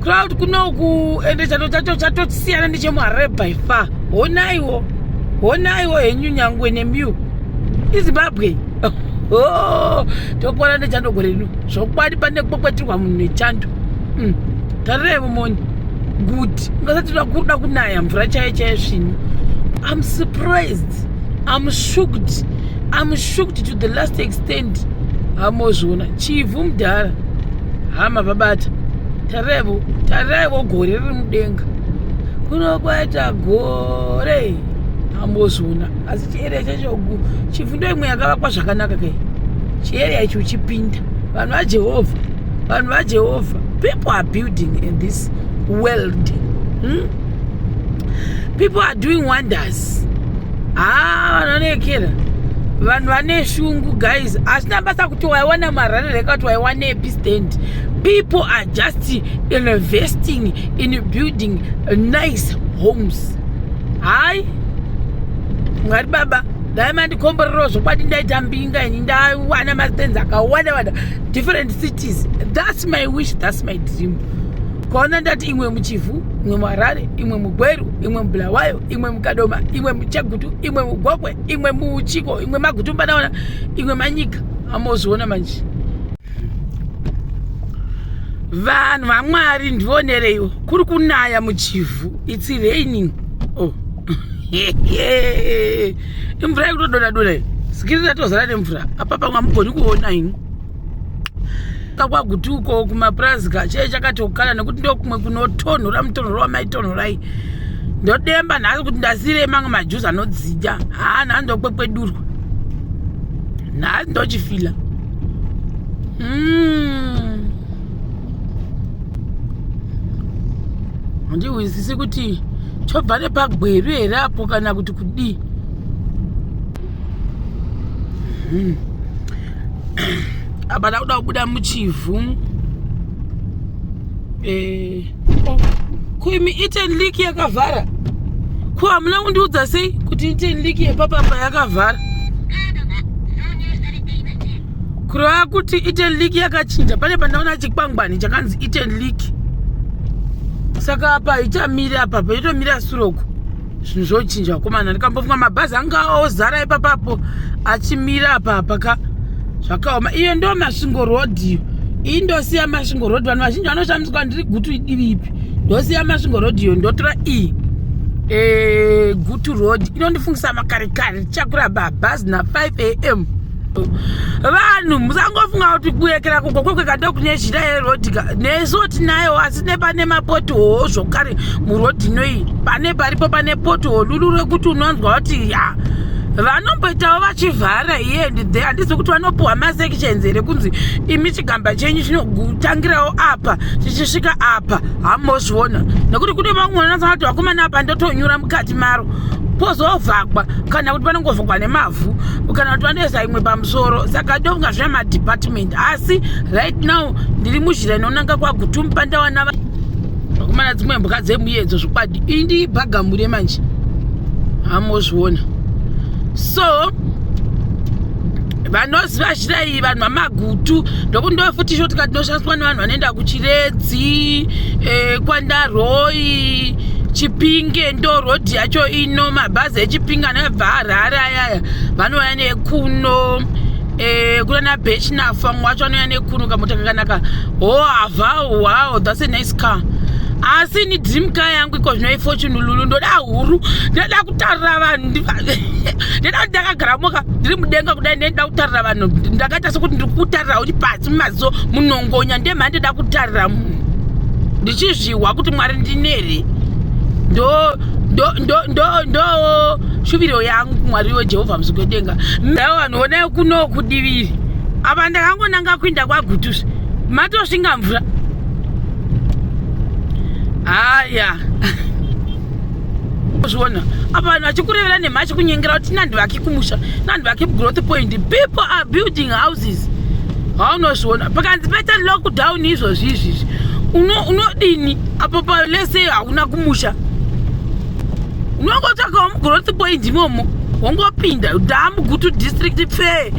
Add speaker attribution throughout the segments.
Speaker 1: crowd kunoku ende chato chacho chatosiyana nechemuharare by far honaiwo honaiwo henyu nyangwe nemiu izimbabwe oh, topora nechando gore rino zvokwadi pane kwekwetirwa munhu nechando mm. tarirai vomoni good ungasati da kuda kunaya mvura chaiyo chaiyo svinu im surprised im shooked im shooked to the last extent hamozviona chivhu mudhara hama vabata taraivo taraivo gore riri mudenga kuno kwaita gore ambozviona asi chieria chacho chipfundo imwe yakavakwa zvakanaka kai chieria icho uchipinda vanhu vajehovha vanhu vajehovha people are building in this world hmm? people are doing wonders haa ah, vanoneekera vanhu vane shungu guys hazvina basa kuti waiwana marare reka kuti waiwanepi stand people are just investing in building nice homes hayi mwari baba dai mandikomborerawo zvokwadi ndaita mbinga ini ndawana mastands akawanda wanda different cities thats my wish thats my dream kwaona ndati imwe muchivhu imwe muharare imwe mugweru imwe mubulawayo imwe mukadoma imwe muchagutu imwe mugwakwe imwe muchiko imwe magutumba naona imwe manyika amozviona manje vanhu vamwari ndionereiwo kuri kunaya muchivhu its raining oh. imvura yekutodona dona sikiri ratozara nemvura apapa mwamugoni kuona ini kakwaguti uko kumapurazi ka chee chakatokala nekuti ndokumwe kunotonhora mutonhoro wamaitonhorai ndodemba nhasi kuti ndasiyirei mamwe majuzi anodzidya haa nhasi ndokwekwedurwa nhasi ndochifila hmm. handihwisisi mm. kuti chobva nepagweru here apo kana kuti kudii mm. apa ndakuda kubuda muchivhu eh, oh, kuimi iten leak yakavhara ko hamuna kundiudza sei kuti iten leak yepapamba yakavhara kureva kuti iten leak yakachinja pane pandaona chikwangwani chakanzi iten leak saka apa hichamiri apapa yotomira suroku zvinhu zvochinja vakomana ndikambofunga mabhazi anga ozara ipapapo achimira apapa ka zvakaoma iyo ndo masvingo road iyo iyi ndosiya masvingo road vanhu vazhinji vanoshamiswa ndiri gutu divi ipi ndosiya masvingo road iyo ndotora iyi e, gutu road inondifungisa makarekare tichakura babhazi na 5 am vanhu musangofunga kuti kuyekera kugokwekeka ndokune zhira yerodhi nesuwo tinayo asi nepane mapotihowo zvokare murodhi noi pane paripo pane potiho lulu rekuti unonzwa kuti ya vanomboitawo vachivhara iye ndithe handizi kuti vanopiwa masections here kunzi imi chigamba chenyu chinotangirawo apa chichisvika apa hamozviona nekuti kune vamwe vanasana kuti vakomana apa ndotonyura mukati maro pozovhagwa kana kuti vanongovhagwa nemavhu kana kuti vanoisa imwe pamusoro saka ndonga zviya madepartment asi right now ndiri muzhira inonanga kwagutum pandawana vakomana dzimwe mhuka dzemuyedzo zvokwadi indi bhagamure manje hamozviona so vanoziva zhira iyi vanhu vamagutu ndokundiwe futi sho tikati tinoshandiswa nevanhu vanoenda kuchiredzi eh, kwandaroi chipinge ndo rodhi yacho ino mabhazi echipinge anobva harare ayaya vanouya nekuno eh, kuna nabechi nafam wacho anouya nekuno kamota kakanaka ho oh, hava wow thats a nice car asi ni dream car yangu iko zvino ifortune lulu ndoda huru ndoda kutarira vanhu ndinoti ndakagara moka ndiri mudenga kudai ndenda kutarira vanhu ndakaita sekuti ndiri kutarira uri pasi mumaziso munongonya ndemha ndida kutarira munhu ndichizvihwa kuti mwari ndinere ndo ndo ndo ndo ndo shuviro yangu mwari wejehovha musuku wedenga ndao vanhu vonai kuno kudiviri apa ndakangonanga kuinda kwagutusi matosvinga mvura haya ah, zviona apa vanhu vachikurevera nemha achikunyengera kuti nandi vaki kumusha nandi vaki growth point people are building houses haunozviona pakanzi paita lockdown izvozvi izvizvi unodini apo palese hauna kumusha unongotsvakawo mugrowth point imomo wongopinda ndaamugutu district pfee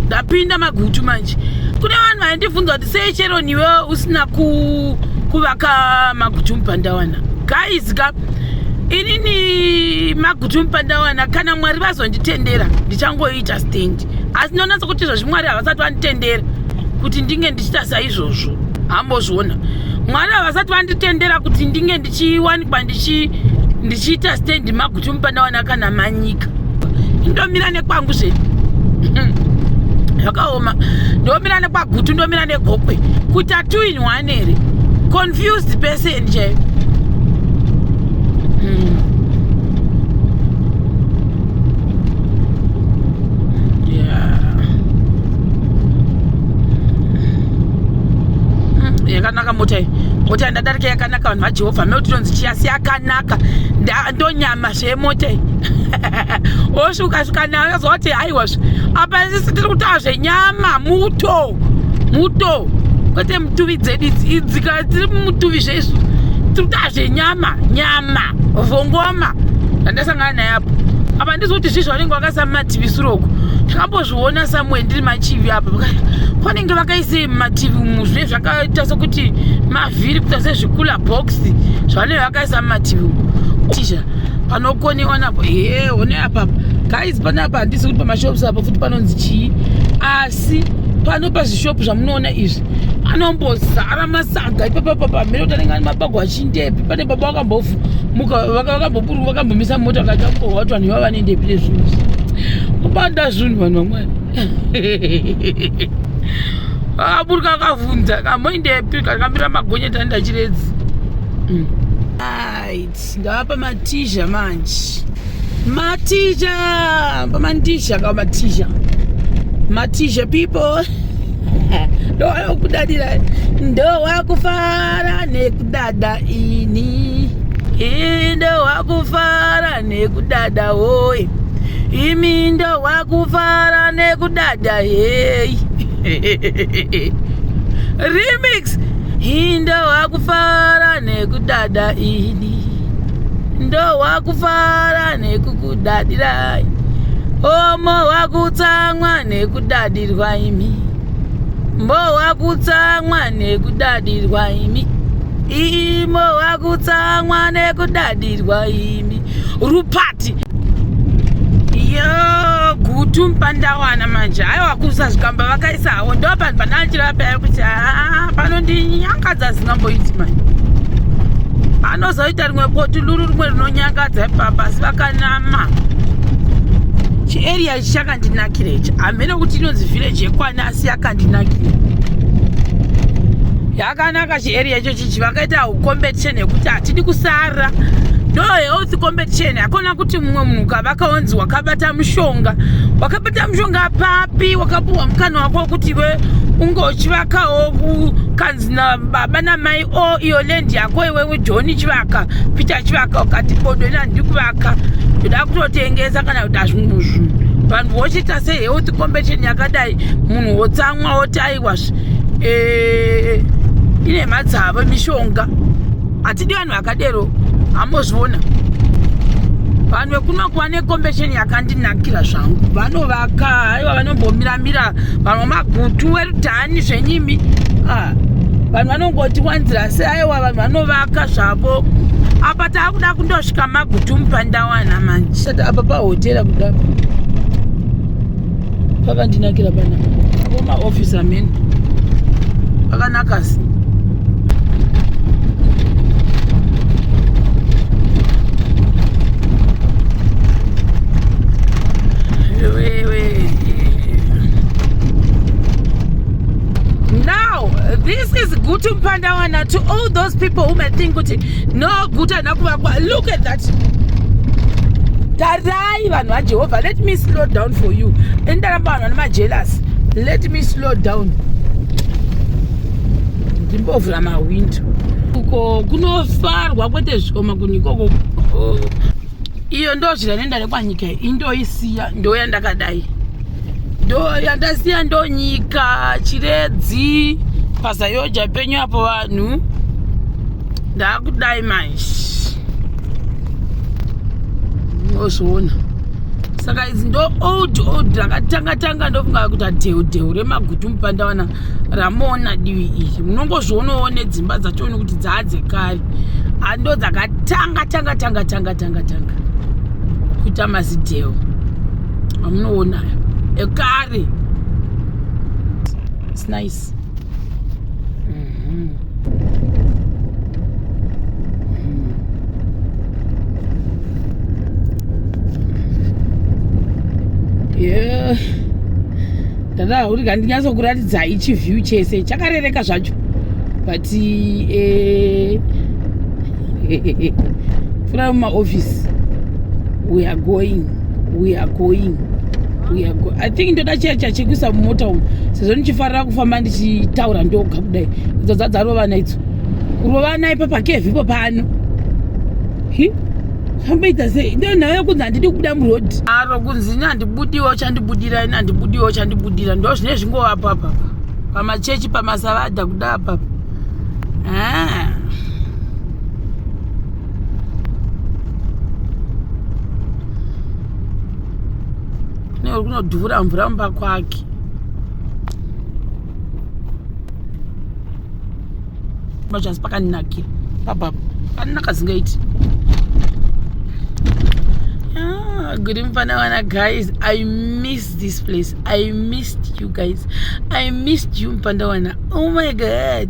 Speaker 1: ndapinda magutu manje kune vanhu vaindibvunza kuti sei chero niwe usina kuvaka magutu mupandawana guys ka inini maguti mupandawana kana mwari vazonditendera ndichangoita stand asi ndonatsa kuti izvozvi mwari havasati vanditendera kuti ndinge ndichiita saizvozvo hambozviona mwari havasati vanditendera kuti ndinge ndichiwanikwa ndichiita stand kuti umupanda wana kana manyika ndomira nekwangu zvedu zvakaoma ndomira nekwagutu ndomira negokwe kuti atu in one here confused person chaiyo hmm. yakanaka mota iyi mota yadarika yakanaka vanhu vajehovha mekuti tinonzi chiyasi yakanaka ndonyama zvemota osvika svika nayo azoa kuti haiwa zve apa sisi tiri kutaura zvenyama muto muto kwete mutuvi dzedu idzi kana tiri mutuvi zvesu tiri kutaura zvenyama nyama vongoma zvandasangana naye apo apa ndizoti zvizvo vanenge vakasamativi suroko takambozviona samue ndiri machivi apa inge vakaise mumativi umu zvine zvakaita sokuti mavhiri kuita sezvikula box zvavanee vakaisa mumativi umu tisha panokonewa napo hee one apapa guys pane apa handisi kuti pamashops apo futi panonzi chii asi pano pazvishopu zvamunoona izvi anombozara masaga ipapapa pamhere kuti anenge ane mabago achindepi pane baba vakambofu vakambopurwa vakambomisa mota vakaita kumbohwa kuti vanhu ivava nendepi nezvinhu kubanda zvinhu vanhu vamwari akaburuka akavhunza kamboindepi kakamira magonyeti andi achiredzi mm. right ndava pamatizha manje matizha pamandizha ka matizha matizha people ndowakudadira ndowakufara nekudada ini ndowakufara nekudada hoi imi ndo wakufara nekudada hei remix hindo wakufara nekudada ini ndo wakufara nekukudadirai omo wakutsamwa nekudadirwa imi mbo wakutsamwa nekudadirwa imi imo wakutsamwa nekudadi makabatirwa imi rupati yo gutu mpandawana manje aiwa kusa zvikamba vakaisa havo ndo panhu panachireva paya kuti haa pano ndinyangadza zinomboiti manje panozoita rimwe koti luru rimwe rinonyangadza ipapa asi vakanama chiarea ichi chakandinakira ichi hamene kuti inonzi village yekwana asi yakandinakira yakanaka chiarea icho vazhinji vakaita competition yekuti hatidi kusara no health competition hakona kuti mumwe munhu ukavaka onzi wakabata mushonga wakabata mushonga papi wakapuwa mukana wako wekuti iwe unge uchivakawo kanzi nababa namai o iyo land yako iwewe joni chivaka peter chivaka ukati bodo nandiri kuvaka ndoda kutotengesa kana kuti hazvimwe zvinhu vanhu vochiita sehealth competition yakadai munhu wotsamwa wotai kwazvi eh, ine madzavo mishonga hatidi vanhu vakadero hambozviona vanhu vekuno kuva nekombesheni yakandinakira zvangu vanovaka haiwa vanombomiramira vanhu vamagutu werutani zvenyimi ah, vanhu vanongoti wanzira se aiwa vanhu vanovaka zvavo apa taakuda kundosvika magutu mupandawana manje apa pahotera kudaro pakandinakira pana oma office amen pakanakasi this is gutu mpandawana to all those people who may think kuti no gutu haina kuvakwa look at that Ai vanhu vaJehovha, let me slow down for you. Endaramba vanhu vane majealous. Let me slow down. Ndimbovhura mawindow. Uko kunofarwa kwete zvikoma kunyikoko. Oh. Iyo ndozvira nenda rekwanyika indoisiya ndoya ndakadai. Ndoya ndasiya ndonyika chiredzi pazayoja penyu apo vanhu. ndakudai manje ozviona saka izi ndo old old rakatanga tanga ndofunga kuti adhewu dhewu remagutu mupandawana ramoona divi iri munongozvionawo nedzimba dzatooni kuti dzaa dzekare ando dzakatanga tanga tanga tanga tanga tanga kuita mazidhewu amunoonayo ekare nice ndadada kuti kandinyatsokuraridza ichi view chese chakarereka zvacho but eh, pfuura mumaofisi we are going we are going we are go i think ndoda chiya chachekuisa mumota umu sezvo ndichifarira kufamba ndichitaura ndoga kudai idzo dzadzarovana idzo kurovana ipa pakevi ipo pano hi zvamboita sei ndo nhau yokunzi handidi kubuda muroad aro kunzi ini handibudiwo chandibudira ini handibudiwo chandibudira ndo zvine zvingovapo apapa pamachechi pamasavadha kuda apapa ah. uri kunodhuvura mvura mumba kwake machasi pakanakira pababa pakanaka zingaiti ah, good mfana wana guys i miss this place i missed you guys i missed you mfana wana oh my god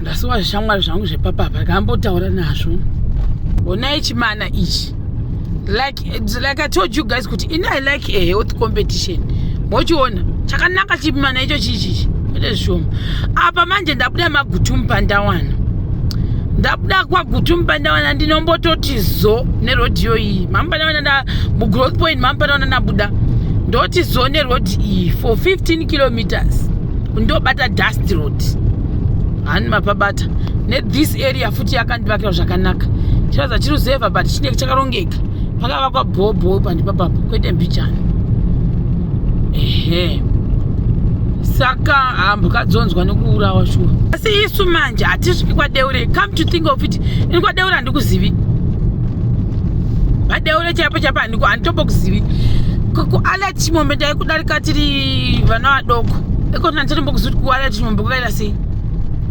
Speaker 1: ndasuwa zvishamwari zvangu zvepapapa kambotaura nazvo honai chimana ichi like like i told you guys kuti ini i like a health competition mochiona chakanaka chimana icho chichichi ite zvishoma apa manje ndabuda magutu mupandawana ndabuda kwagutu mupandawana ndinombototi zo nerodhiyo iyi mamupandawana mugrowth point mamupandawana ndabuda ndoti zo nerodhi iyi for 15 kilometers ndobata dust road hani mapabata nethis area futi yakandivakira zvakanaka chiraza chiri zeva but chinenge chakarongeka pakavakwa bhobho pandipapapa kwete mbichana ehe saka hambo kadzonzwa nekuurawa shuwa asi isu manje hatisviki kwadeure come to think of it ini kwadeure handikuzivi vadeure chaipo chaipo handitombokuzivi kualert moment aikudarika tiri vana vadoko ekoti nanditotombokuzuti kuwala tinombokuvaira sei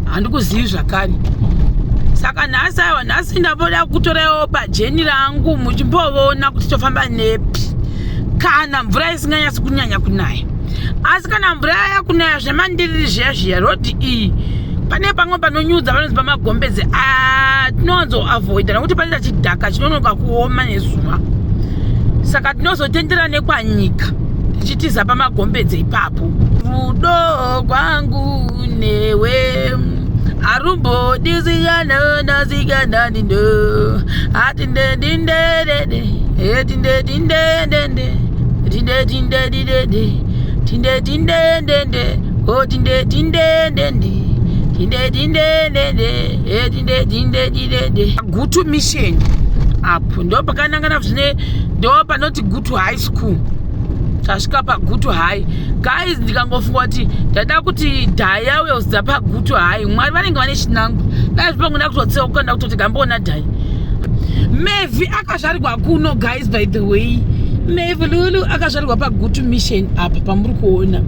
Speaker 1: handikuzivi zvakare saka nhasi aiwa nhasi ndamboda kutorawo pajeni rangu muchimboona kuti tofamba nepi kana mvura isinganyasi kunyanya kunaya asi kana mvura yaya kunaya zvemandiriri zviya zviya rodhi iyi pane pamwe panonyudza panonzi pamagombedzi ah, tinowanzoavoida nokuti panoita chidhaka chinonoka kuoma nezuva saka tinozotendera nekwanyika ndichitiza pamagombedze ipapo rudo kwangu newe harumbodi ziyana nazikana ndindo atindedindedede etindedindedede tindedindedidede tindedindedede o tindedindedede gutu mission apo ndopakanangana zvine ndopanoti gutu high school tasvika pagutu hai guys ndikangofunga kuti ndaida kuti dhaya uye usidza pagutu hai mwari vanenge vane chinangwa dai zvipangu nda kutotsewa kukanda kutoti gamboona dhaya mevi akazvarirwa kuno guys by the way mevi lulu akazvarirwa pagutu mission apa pamuri kuona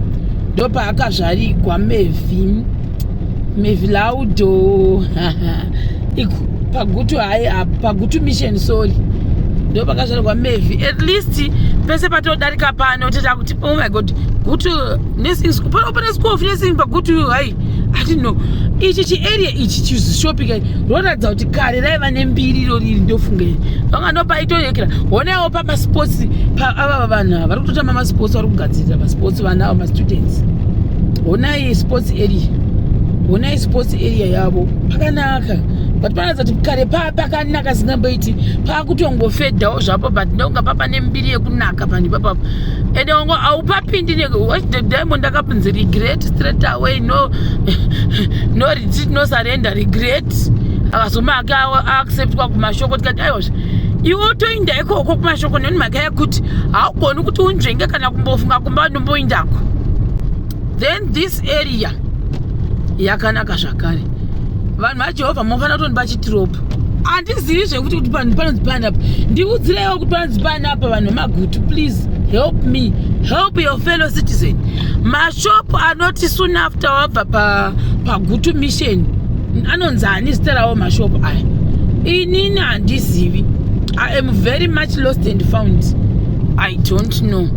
Speaker 1: ndo paakazvarigwa mevi mevi laudo pagutu hayi apo pagutu mission sorry ndo pakazvarwa mavy at least pese patodarika pano teta kuti oh my god gutu pane school of nursing pagutu hayi ati no ichi chiarea ichi chizishopika roratidza kuti kare raiva nembiri iro riri ndofunga iri vanga ndopaitoyekera honewo pamasports paavava vanhu ava vari kutotama masports vari kugadzirira masports vana ava mastudents honai sports area honai sports area yavo pakanaka but panoratidza kuti kare paa pakanaka singamboiti paakutongofedhawo zvapo but ndonga papa nembiri yekunaka panhu ipapapo ende wangu haupapindi nediamond akapinzi regret straight away no no retreat no surrender regret akazoma ake aacceptwa kumashoko tikati aiwazve iwe utoinda ikoko kumashoko neni mhaka yekuti haugoni kuti unzvenge kana kumbofunga kumba ndomboindako then this area yakanaka zvakare vanhu vajehovha munofanira kutondipa chitiropo handizivi zvekuti kuti panhu panonzi pani apa ndiudzireiwo kuti panonzi pani apa vanhu vemagutu please help me help your fellow citizen mashopu anoti soon after wabva pagutu pa mission anonzi hani zita rawo mashopu aya inini handizivi i am very much lost and found i don't know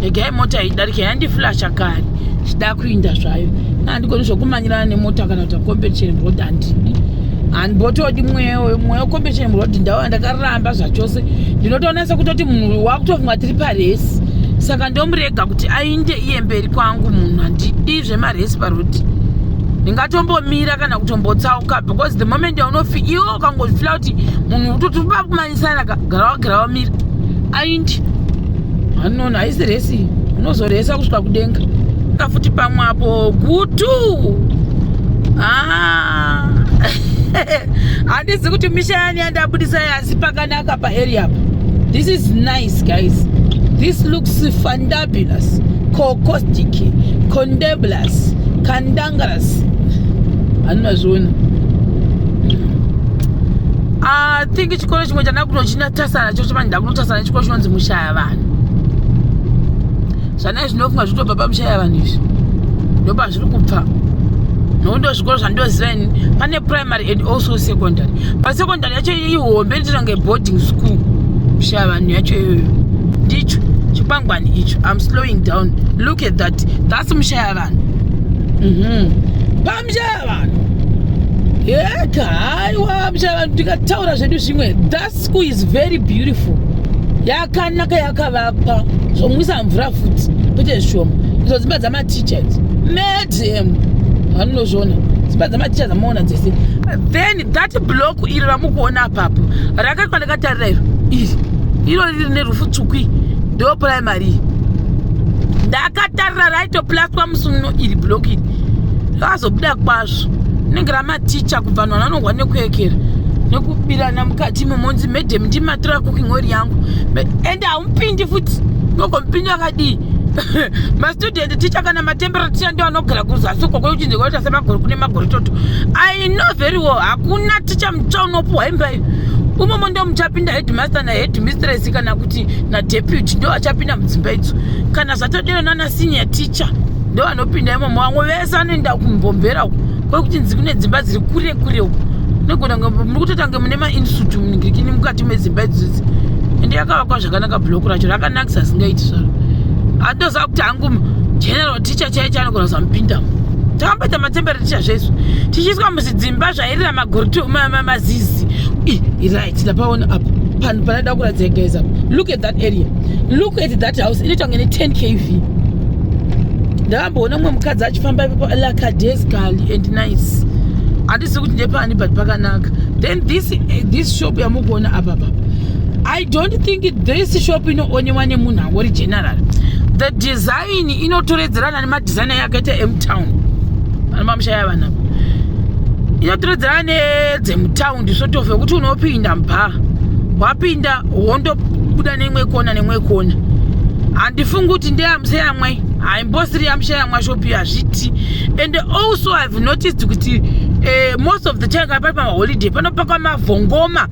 Speaker 1: regai mota idarika yandiflasha kare zvichida kuinda zvayo andigoni zvokumanyirana nemota kana kuti competition road handidi handibotodi mweya uyo mweya competition road ndaona ndakaramba zvachose ndinotoona sekutoti munhu wakutofunga tiri paresi saka ndomurega kuti ainde iye mberi kwangu munhu handidi zvemaresi parodi ndingatombomira kana kutombotsauka because the moment yaunofi iwo ukangozvifila kuti munhu utotipa kumanyisana ka gara wagara wamira aindi hanona haisi resi unozoresa kusvika kudenga ka futi pamwe apo gutu ah. handizi kuti misha yani yandabudisa yasi pakanaka paarea apo this is nice guys this looks fandabulous cocostic condebulous kandangaras anonazviona ah, think chikoro chimwe chandakunochina tasana cho chimani ndakunotasana chikoro chinonzi mushaya vanhu zvanai zvinofunga zvitobva pamushaya vanhu izvi ndopazviri kubva nokuti ndozvikoro zvandoziva ini pane primary and also secondary pasecondary yacho ihombe nditonge boarding school mushaya vanhu yacho iyoyo ndicho chikwangwani icho im slowing down look at that thats mushaya vanhu mhm. pamushaya vanhu yeka haiwa mushaya vanhu tikataura zvedu zvimwe school is very beautiful yakanaka yakavakwa zvomwisa mvura futi kwete zvishoma idzo dzimba dzamaticha idzi madam vanonozviona dzimba dzamaticha dzamaona dzese then that block iri ramukuona apapo rakaitwa ndakatarira iro iri iro riri nerufu tsvukwi ndo primary iyi ndakatarira raitoplaswa musuno iri block iri rakazobuda kwazvo rinenge rama ticha kubva nwana anongwa nekuekera nekubirana mukati momonzi madam ndimatira cooking oil yangu and haumupindi futi nokomupindi akadii mastudent ticha kana matemperature ndo anogara kuzasi uko kwekuchinzi kwaita semagore kune magore toto i know very well hakuna ticha mutsva unopuhwa imba iyo umomo ndo muchapinda headmaster naheadmistress kana kuti nadeputy ndo achapinda mudzimba idzo kana zvatodero nana senior ticha ndo anopinda imomo vamwe asi anoenda kumbombera uku kwekuchinzi kune dzimba dziri kure kure uku negona muri kutoita kunge mune mainsutu muningirikini mukati medzimba idzidzi ende yakavakwa zvakanaka block racho rakanakisa asingaiti zvaro atoziva kuti hangu general teacher chaiye chaanogona zamupindamo takamboita matembere ticha zvesu tichiiswa muzidzimba zvairira magorito mazizi right ndapaona apa panhu panaida kuratidza guys apa look at that area look at that house inoita kunge ne 10 kv Amboona umwe mukadzi achifamba ipapo lakadescally and nice. Handizivi kuti ndepani but pakanaka. Then this, eh, this shop yamukuona apa papa. I don't think this shop inoonewa nemunhu angori general. The design inotoredzerana nemadesign ayo akaita emutown. Vana mamushaya vana. Inotoredzerana nedzemutown sort of yekuti unopinda mubhaa. Wapinda wondobuda nemwe kona nemwe kona. Handifungi kuti ndeamuseyamwai. haimbosiri yamusha yamwashopi hazviti and also ihave noticed kuti eh, most of the time kana pari pamaholiday panopakwa mavhongoma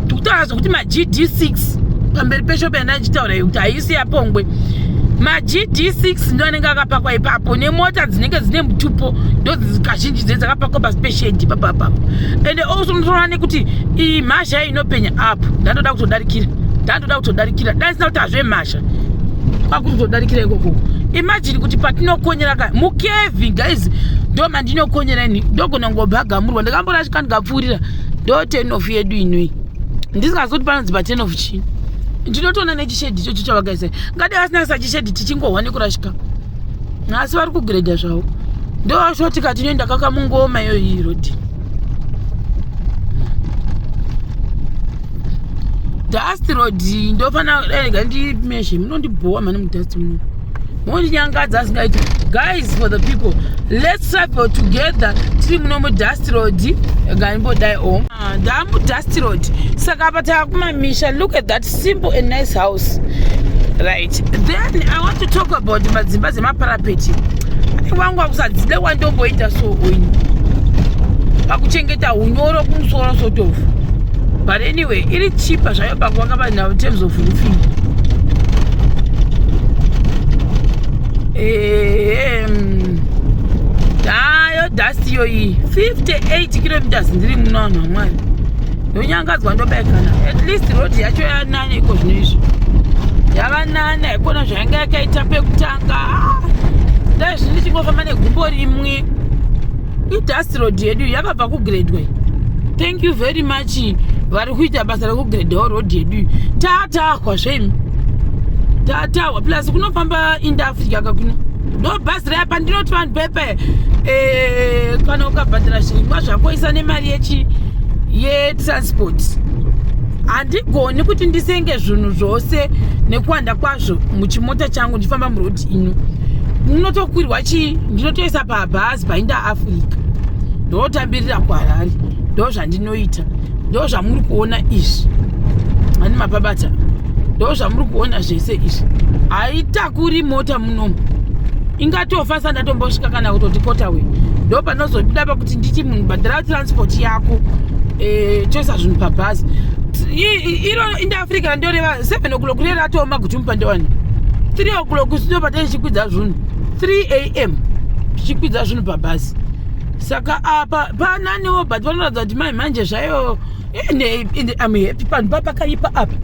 Speaker 1: tikutaura zvokuti magd 6 pamberi peshopi yanda ndichitaura iyo kuti haisi yapongwe magd 6 ndo anenge akapakwa ipapo nemota dzinenge dzine mutupo ndokazhinji dze dzakapakwa paspecialty papapapo and also unotoona nekuti iyi mhazha inopenya apo ndandoda kutodarikira ndandoda kutodarikira daisina kuti hazvemhasha kwakuri kutodarikira ikoko imajini kuti patinokonyera ka mukevi guys ndo mandinokonyera ini ndogona ngobhagamurwa ndakamborashika ndikapfuurira ndo ten of yedu inoi ndisingazoti panonzi pa ten of chii ndinotoona nechishedhi ichocho chavakaisa ngade vasina kusa chishedhi tichingohwa nekurashika asi vari kugredha zvavo ndosvotikatinoenda kakamungoma iyoyi rodini dust road ndofana daiga ndimeshe munondibhowa mani mudust muno mondinyangadza asingaiti guys for the people let's travel together tiri muno mudust road gaimbodaio ah, ndamudust road saka apa takumamisha look at that simple and nice house right then i want to talk about madzimba dzemaparapeti wangu akusadzide wandomboita so ini pakuchengeta unyoro kumusoro sotofu but anyway iri chipa zvayo pakuvanga vanhau terms of roofing dayo dust iyoyi 58 kilometers ndiri muno vanhu vamwari ndonyangadzwa ndobaikana at least road yacho yanane iko zvino izvi yava nane haikona zvainge yakaita pekutanga ah, dai zvino ndichingofamba negumbo rimwe idust road yedu yakabva kugradwe thank you very much vari kuita basa rekugradhawo road yedu tatahwa zvemi tatahwa plus kunofamba indafrika kakuno ndo bhazi raya pandinoti vanhu bepe eh, kana ukabhadhara zvirimwa zvako isa nemari yechi yetransport handigoni kuti ndisenge zvinhu zvose nekuwanda kwazvo muchimota changu ndifamba murodi ino ndinotokwirwa chii ndinotoisa pabhazi painda africa ndotambirira kuharari ndozvandi inoita ndo zvamuri kuona izvi ani mapabata ndo zvamuri kuona zvese izvi haitakuri mota munomu ingatofa sa ndatombosvika kana kutoti kotawe ndo panozobuda pakuti nditi munhu bhadhara transport yako eh, choisa zvinhu pabhazi iro indaafrica ndoreva seven o'clock rere atooma guti mupandewani three o'clock sinopatai chikwidza zvinhu 3 am tichikwidza zvinhu pabhazi saka apa pananiwo but vanoratidza kuti mai manje zvayo ende am happy panhu pa pakaipa apa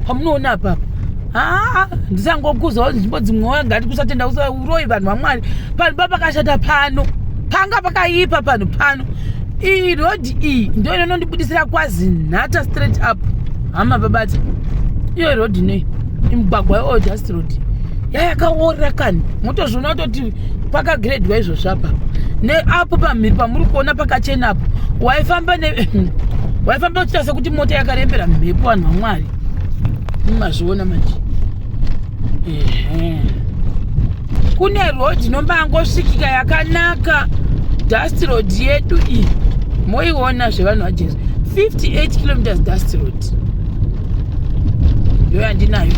Speaker 1: pamunoona apapa haa ndisangokuzawo nzvimbo dzimwe wagati kusatenda uroyi vanhu vamwari panhu pa pakashata pano panga pakaipa panhu pano iyi rodhi iyi ndo inonondibudisira kwazi nhata straight up hama babata iyo rodhi nei imugwagwa yoo just rodhi yayakaora kani motozviona kutoti pakagredwa izvo zvapa neapo pamhiri pamuri kuona pakachena apo waifamba ne waifamba uchiita sekuti mota yakarembera mhepo vanhu vamwari mumazviona manje kune road inombangosvikika yakanaka dust road yedu iyi moiona zvevanhu vajesu 58 kilometers dust road iyoyo handinayo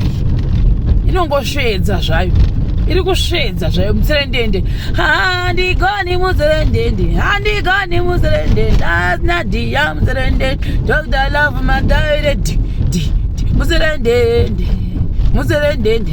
Speaker 1: inongosvedza zvayo iri kusvedza zvayo mutserendende handigoni mutserendende handigoni mutserendende asina dhiya mutserendende dr love magaire di di di mutserendende mutserendende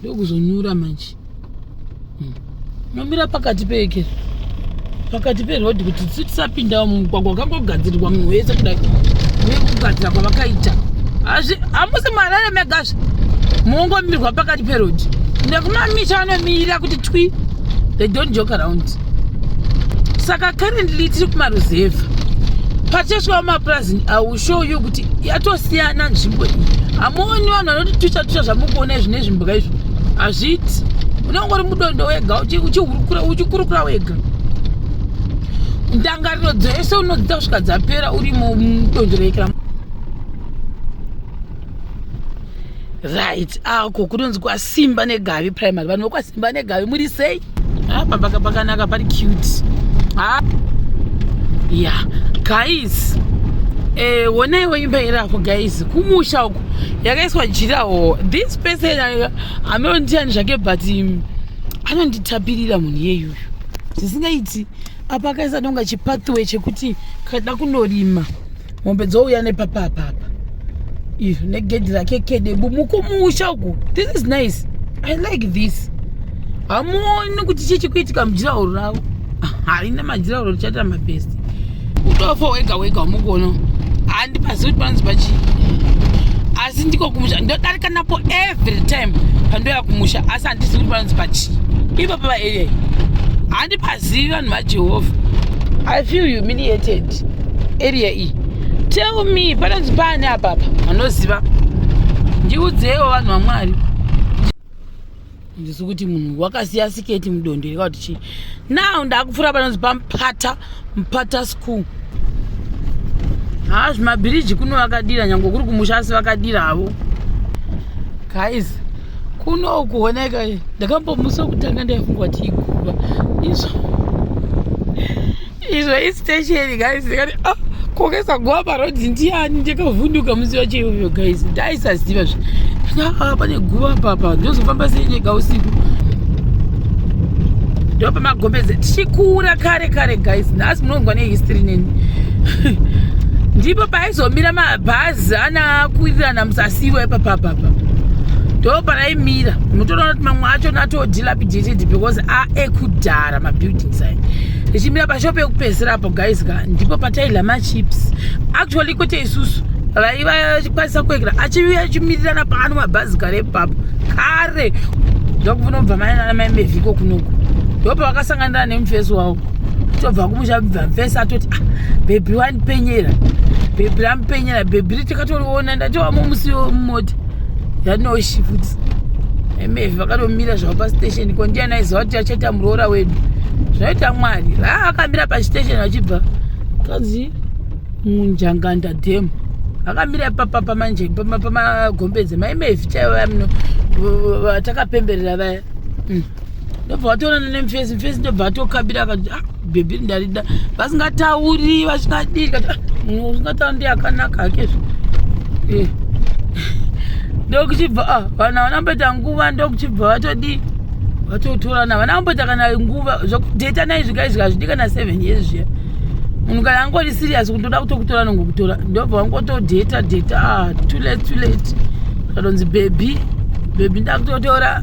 Speaker 1: ndokuzonyura manje hmm. nomira pakati peke pakati perodhi kuti tisu tisapindawo mumugwagwa wakangogadzirirwa munhu wese kudai nekugadzira kwavakaita hazvi hamusi marare megasva mongomirwa pakati perodhi nekumamisha anomirira kuti twi they don't joke around saka currently tiri kumaruzevha pachasvikawo mapurazi au show yo kuti yatosiyana nzvimbo iyi hamuoni vanhu vanoti tucha tucha zvamukuona izvi nezvimbwa izvo hazviiti unenge uri mudondo wega uchihurukura uchikurukura wega ndangariro dzese unodzita kusvika dzapera uri mudonzo reikira right ako ah, kunonzi kwasimba negavi primary vanhu vekwasimba negavi muri sei apa ah, baka pakanaka pari cute ha ah. ya guys eh, honaiwo imba iri apo guys kumusha uku yakaiswa jirawo this person anondiani zvake but um, anonditapirira munhu yeyuyu zvisingaiti apa akaisa donga chipathway chekuti kada kunorima mombe dzouya nepapa apapa iro negedhi rake kedebu mukumusha uku this is nice i like this hamuoni kuti chii chikuitika mujirahoro ravo haina majirahoro richatira mabest utofa wega wega wamukuona handi pasi kuti panonzi pachi asi ndiko kumusha ndodarika napo every time pandoya kumusha asi handisi kuti panonzi pachi ipapo paeria handi pasi hatizivi vanhu vajehovha i feel humiliated area iyi tell me panonzi paani apapa vanoziva ndiudzeiwo vanhu vamwari ndisi kuti munhu wakasiya siketi mudondo iri kauti chii now ndakupfuura panonzi pampata mpata school haa zvimabhiriji kuno vakadira nyange kuri kumusha asi vakadira havo guys kuno kuoneka ndakambomusa kutanga ndaifungwa kuti iguva izvo izvo istation guys ndikati oh, ah, kokesa guva parodi ndiyani ndikavhunduka musi wacho iyoyo guys ndaisaziva zve ah, pane guva papa ndozofamba seinyega usiku ndopamagombeze tichikura kare kare guys nhasi munonzwa nehistory neni ndipo pa zomira mabhazi anakwirirana musasiwa ipapapapa ndo paraimira munotoona kuti mamwe acho natodilapidated because aekudhara mabuildings ayo richimira pasho pekupedzisira apo guys ka ndipo pataidla machips actually kwete isusu vaiva chikwanisa kuekera achiuya achimirirana pano mabhazi kare ipapo kare ndokubva nobva mai nana mai mevhiko kunoku ndopavakasanganira nemufesi wavo tobva kumusha mvamvesa atoti ah, bhebhi wanipenyera bhebhi ramupenyera bhebhi ri tikatoriona ndatova mumusi wemumota yanoshi futi emevi vakatomira zvavo pastation ko ndiya naiziva kuti achaita muroora wedu zvinoita mwari vaakamira pastation vachibva kanzi munjanganda dam akamira ipapa pamanje pamagombedze maimevi chaivo vaya muno vatakapemberera vaya mm. ndobva vatoonana nemufesi mufesi ndobva atokabira akati ah, bhebhi ndarida vasingatauri vasingadii kati ah, munhu usingatauri ndiye akanaka hake zvo eh. ndokuchibva ah, vana vanamboita nguva ndokuchibva vatodii vatotorana vana vamboita kana nguva zvokudheta nai zvika izvi hazvidi kana seven years zviya munhu kana angori serious kundoda kutokutora nongokutora ndobva wangotodheta dheta ah, too late too late zvatonzi bhebhi bhebhi ndakutotora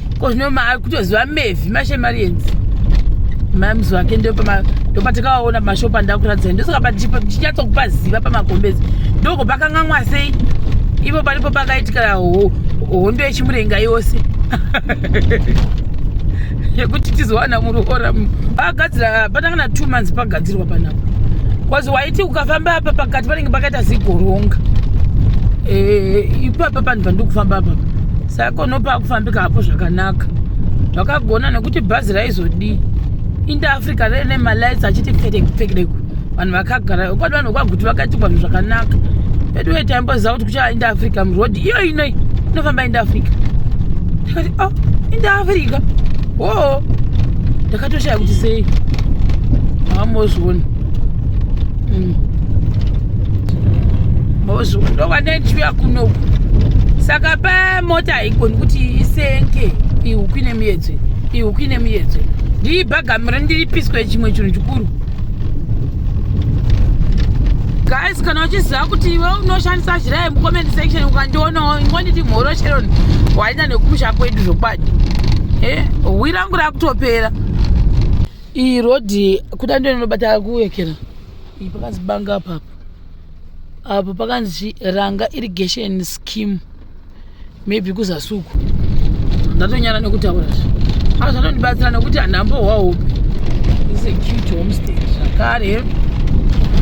Speaker 1: kozvino kutoziva mevhi mashemarians mamuzi wake ndopatakawaona pamashop andakuradzai ndosaka patichinyatsokupaziva pamakombezi ndoko pakanganwa sei ipo paripo pakaitika hondo yechimurenga yose yekuti tizowana muroora agadzira patangana two months pagadzirwa panapa bcause waiti ukafamba apa pakati panenge pakaita zigoronga eh, ipapa panhu pandikufamba apapa sako nopa kufambika hapo zvakanaka zvakagona nekuti bhazi raizodii inde africa rine malights achiti pfedeku vanhu vakagara kwadi vanhu vekwaguti vakaiti vanhu zvakanaka veduwe taimboziva kuti kuchaa inde africa muroad iyo inoi inofamba inde africa ndakati o oh, inde africa oo ndakatoshaya kuti sei amozviona mm. mhozvo ndovanechiuya kunoku saka pamota haigoni kuti isenke ihuku ine muyedzwe ihuku ine muyedzwe ndiibhagamira ndiripiswe chimwe chinhu chikuru guys kana uchiziva kuti iwe unoshandisa zhira yemucomment section ukandionawo ingonditi mhoro sharon waita nekumusha kwedu zvokwadi e hwi rangu rakutopera iyi rodhi kuda ndonobata kuekera iyi pakanzi banga apa apa apo pakanzi ranga irrigation scheme maybe kuzasi uko ndatonyara nekutaura zve aa zvatondibatsira nekuti handambohwa hope is a cute homestay zvakare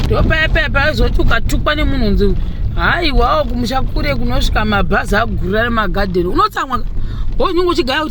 Speaker 1: ndopaya paya paizoti ukatukwa nemunhu unzi haiwawo kumusha kure kunosvika mabhazi agurira nemagadheni unotsamwa wonyunga uchigaya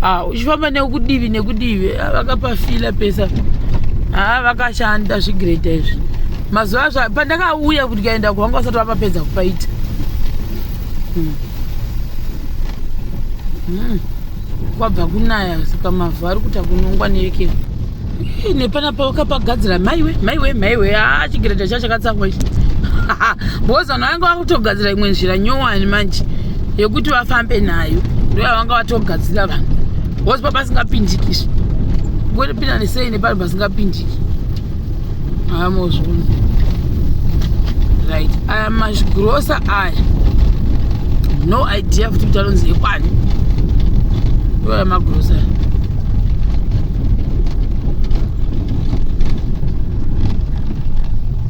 Speaker 1: ah, uchifamba nekudivi nekudivi ah, vakapafila pesa haa ah, vakashanda zvigreta izvi mazuva azvo pandakauya kuti kaenda kuvanga vasati vapapedza kupaita hmm. hmm. kwabva kunaya saka mavhu ari kuta kunongwa neyekera nepana pawakapagadzira maiwe maiwe maiwe haa ah, chigiredha cha chakatsangwa ichi because vanhu vanga vakutogadzira imwe nzira nyowani manje yekuti vafambe nayo ndoyavanga vatogadzira vanhu because pa pasingapindiki izvi kotopinda nesei nepano pasingapindiki amozvona right aya mazvigrosa aya no idea futi kuti anonzi ekwani ndoya magrosa aya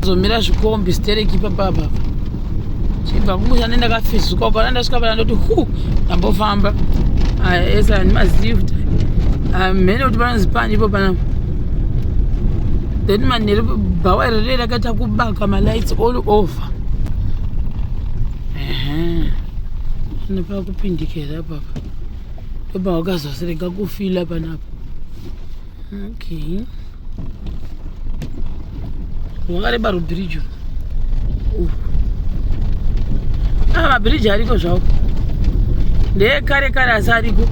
Speaker 1: zomira zvikombi stereki ipapa papa chibva kumusha ne ndakafezuka ukaona ndasvika pana ndoti hu ndambofamba esa handimazivi kuti hamhene kuti panonzi pani ipo panapa then manheri bhawa iri rei rakaita kubaka malights all over ehe nepakupindikera papa ndoba wakazosirega kufila panapa okay wakareba rubiriji uh. aa ah, mabiriji ariko zvawo ndeye kare kare asi ariko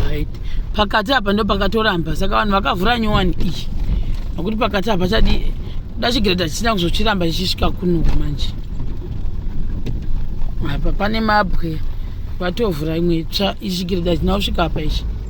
Speaker 1: right pakati apa ndo pakatoramba saka vanhu vakavhura nyowani iyi nokuti pakati apa chadi kuda chigireda chisina kuzochiramba chichisvika kunoku manje apa pane mabwe vatovhura imwe tsva ichi chigireda china kusvika apa ichi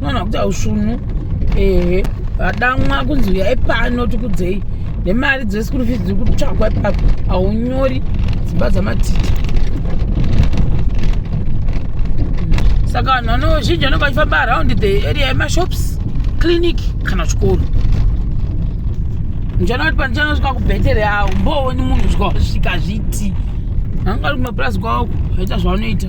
Speaker 1: mwana wakuti ausvunu ehe vadamwa kunzi uyai pano tikudzei nemari dzeschool fees dziri kutsvagwa ipapo haunyori dzimba dzamatiti saka vanhu vanozhinji vanenge vachifamba around the area yemashops clinic kana chikoro ndichana kuti pandichanosvika kubhetere awo mbooni munhu zvika wasvika zviti anga ari kumapurazi kwawoko aita zvavanoita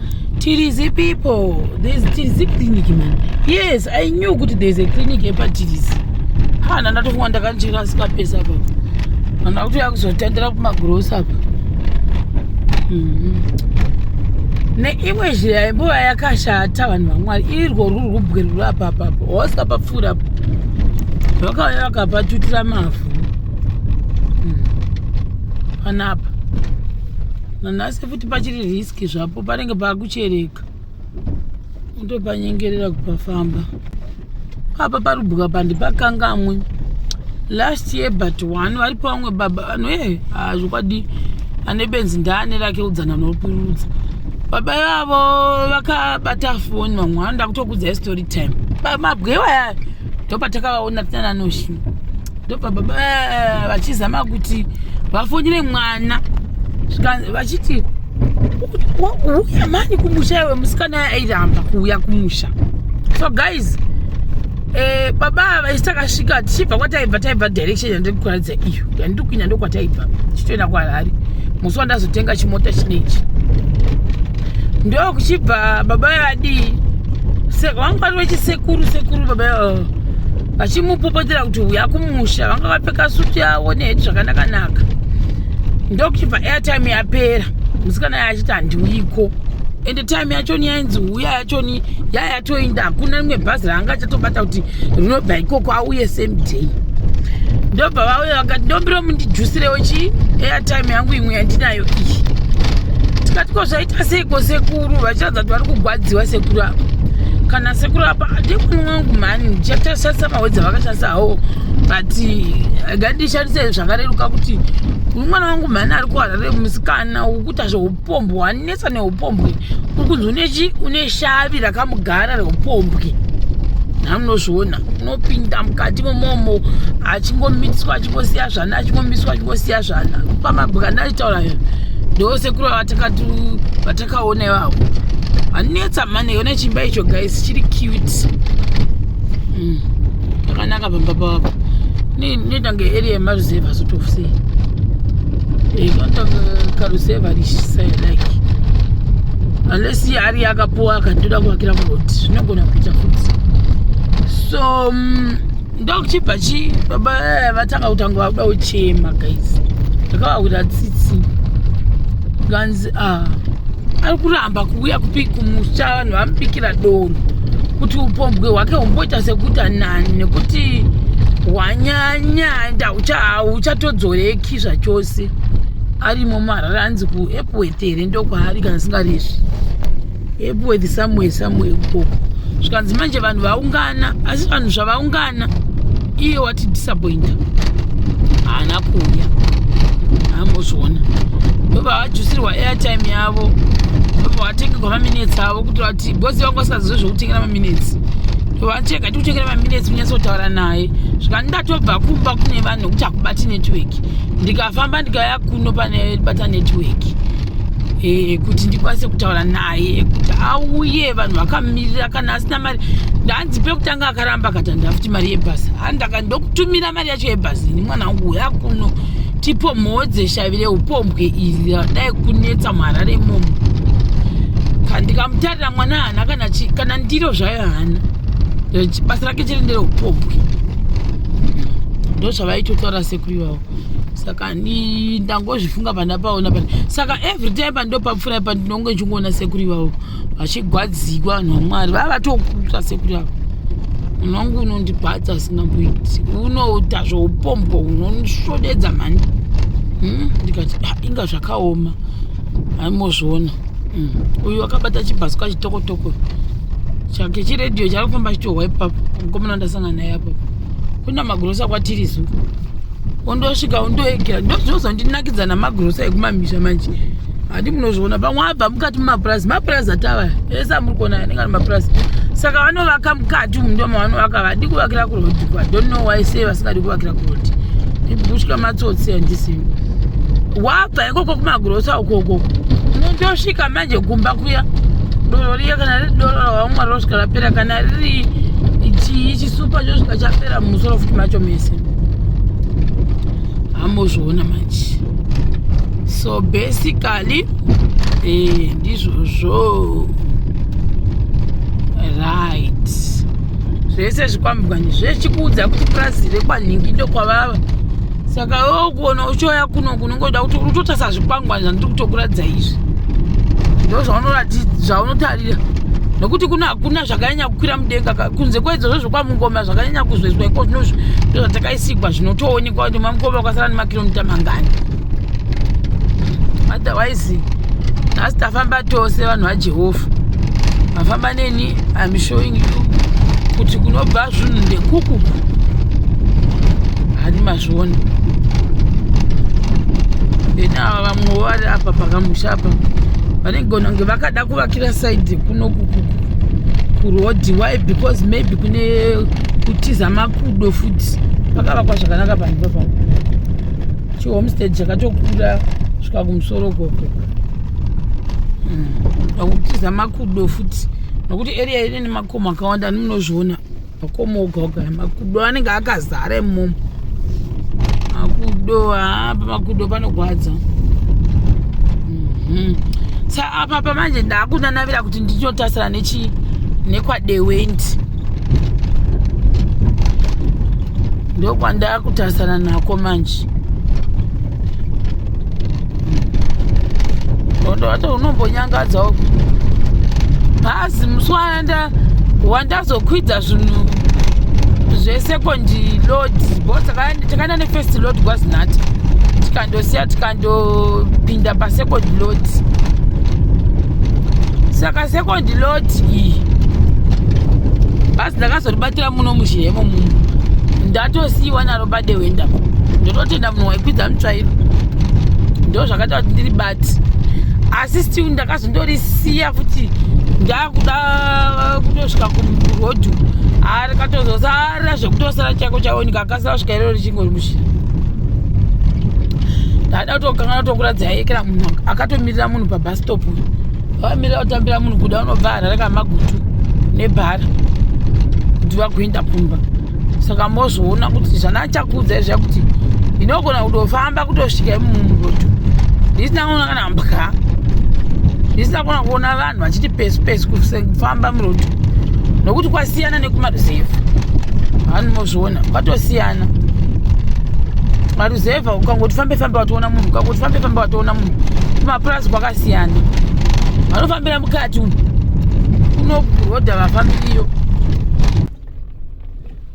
Speaker 1: Tirizi people, there's Tirizi clinic man. Yes, I knew kuti there's a clinic epa Tirizi. Ha, nanda tofunga ndakanchira sika pesa apa. Nanda kuti yakuzotandira kuma gross apa. Mhm. Ne imwe zhira yaimbova yakashata vanhu vaMwari irwo ruri rubwe ruri apa apa apa hosika papfuura apa vakauya vakapatutira mavhu hmm. panapa nanhasi futi pachiri risk zvapo panenge pakuchereka utopanyengerera kupafamba papa parubwa pandi pakangamwe last year but one vari pamwe baba vanhu e eh, hazvokwadi ah, ane benzi ndaane rake udzana nopurudza baba ivavo vakabata foni vamwe vanoda kutokudzai story time mabwewa yayo ndopatakavaona tinananoshima ndobva baba eh, vachizama kuti vafonyere mwana vachiti uya mani kumusha iwe musikana airamba kuuya kumusha so guys eh, baba vaisi takasvika tichibva kwataibva taibva direction yandiri kuratidza iyo yandiri kuina ndokwataibva tichitoenda kuharari musi wandazotenga chimota chinechi ndo kuchibva baba vadii vangwari wechisekuru sekuru baba uh, vachimupopotera kuti uya kumusha vanga vapfeka sutu yavo neheti zvakanakanaka ndokuti paairtime yapera musikana yaya achiti handiuyiko ende time yachoni yainzi uya yachoni yaya yatoinda hakuna rimwe bhazi raanga achatobata kuti rinobva ikoko auye same day ndobva vauya vakati ndombiro mundijusirewo chii airtime yangu imwe yandinayo iyi tikati ko zvaita seiko sekuru vachiratidza vanhu vari kugwadziwa sekuru apa kana sekuru apa ndekuni wangu mhani ndichashandisa mahwedzi avakashandisa hawo but gandishandise zvakareruka kuti uri mwana wangu mhani ari kuharare musikana ukuta zveupombwe wanetsa neupombwe uri kunzi unechi une shavi rakamugara reupombwe namunozviona unopinda mukati momomo achingomitiswa achingosiya zvana achingomiswa achingosiya zvana pamabwika ndaitaura ndosekuru vatakati akaona iwawo anetsa mane yona chimba icho guys chiri cute mm. yakanaka pamba pavo netange area yemaruzevha sort of say karuzevha risai like unless yari yakapuwa akandoda kuvakira muroti zvinogona kuita futi so um, ndokuchibva chi baba eh, vatanga kutanga vakuda kuchema guys ndakavakuda tsitsi kanzi ah ari kuramba kuuya kupi kumusha vanhu vamubikira dono kuti upombwe hwake humboita sekuti anani nekuti hwanyanya and hauchatodzoreki zvachose arimo marara anzi kuepwete here ndokwaari kana singaresvi epwedhi samue samue ikoko zvikanzi manje vanhu vaungana asi vanhu zvavaungana iye wati disappointa haana kuuya ambozviona ndobva vajusirwa airtime yavo ndobva vatengegwa maminets avo kuti vati bozi vangu vasingazive zvekutengera maminets ndovancheka ti kutengera maminets kunyatsa kutaura naye zvika ndatobva kumba kune vanhu nekuti hakubati network ndikafamba ndikaya kuno pane bata network e, kuti ndikwanise kutaura naye kuti auye vanhu vakamirira kana asina mari hanzi pekutanga akaramba akati handina futi mari yebhasi handaka ndokutumira mari yacho yebhasi ini mwana wangu uya kuno tipo mhowo dzeshavi reupombwe iri radai kunetsa muharare imomo kandikamutarira mwana hana kana chi kana ndiro zvayo hana basa rake chiri ndereupombwe ndozvavaitotaura sekuru ivavo saka ni ndangozvifunga pana paona pana saka every time pandopapfura pa ndinonge ndichingoona sekuri vavo vachigwadzikwa vanhu vamwari vava vatokuta sekuri vavo unonge unondigwadza asingamboiti unoita zvoupombwa unonisvodedza mhani hmm? ndikati inga zvakaoma aimozviona hmm. uyu akabata chibhasu kachitokotoko chake chiredio chari kufamba chitohwa ipapo mukomana ndasangana naye apapo kuna magrosa kwatiri zu ondosvika ondoegera ndozozondinakidza namagrosa ekumamisha manje handi munozviona pamwe abva mukati mumapurazi mapurazi atava ese amuri kuona anenge ari mapurazi saka vanovaka mukati umu ndoma vanovaka vadi kuvakira kurodi kwa don't know why sei vasingadi kuvakira kurodi ibushka matsotsi andisivi wabva ikoko kumagrosa ukoko ndosvika manje kumba kuya doro riya kana riri doro rawamwari rosvika rapera kana riri chii chisupa chosvika chapera mumusoro futi macho mese hamozviona manje so basically eh, ndizvozvo right zvese zvikwambwani zvechikuudza kuti purazi rekwanhingi ndokwavava saka wo kuona uchoya kuno kunongoda kuti utotasa zvikwangwani zvandiri kutokuratidza izvi ndo zvaunotarira nokuti kuno hakuna zvakanyanya kukwira mudenga ka kunze kwedzo zvezvo kwamungoma zvakanyanya kuzvezwa iko zvinozvi ndozvatakaisigwa zvinotoonekwa kuti mamukoma kwasara nemakilomita mangani otherwise nhasi tafamba tose vanhu vajehovha vafamba neni im showing you kuti kunobva zvinhu ndekuku handi mazviona then ava vamwe vari apa pakamusha apa vanenge gonange vakada kuvakira saidi kunokukuku kurodhi why because maybe kune kutiza makudo futi pakavakwa zvakanaka panhu papangu chihomestead chakatokura svika kumusoro koko hmm. akutiza makudo futi nokuti area ine nemakomo akawanda ani munozviona makomogogo makudo anenge akazara imomo makudo haa pamakudo panogwadza mhm. sa apa pamanje ndaakunanavira kuti ndichinotasira nechi nekwadewendi ndokwandaakutasana nako manje ondo wato unombonyangadzawo bhazi muswana ndakaenda wandazokwidza zvinhu zvesecond load bo takaenda nefirst load kwazinati tikandosiya tikandopinda pasecond load saka second load iyi bhazi ndakazoribatira muno mushiremo muno ndatosiyiwa naro badewenda ndototenda munhu waikwidza mutsvairo ndo zvakaita kuti ndiri bati asi still ndakazondorisiya futi kuda kutosvika kurodhu akatozosara zvekutosara chako chaoneka akasara kusvika irero richingori mushira ndaida kutokangana kutokuratidza yekera munhu akatomirira munhu pabastop vamirira kutambira munhu kuda unobva harare kamagutu nebhara kuti vakuenda kumba saka mozoona kuti zvanachakuudzai zviya kuti ndinogona kutofamba kutosvika imumumuroto ndisina kuona kana mbwa ndisina kuona kuona vanhu vanhu vachiti pesu pesu kufamba muroad nokuti kwasiyana nekumaruzevha vanhu mozviona kwatosiyana maruzevha ukangoti fambe fambe watoona munhu ukangoti fambe fambe watoona munhu kumapurazi kwakasiyana vanofambira mukati umu kunorodha vafambiriyo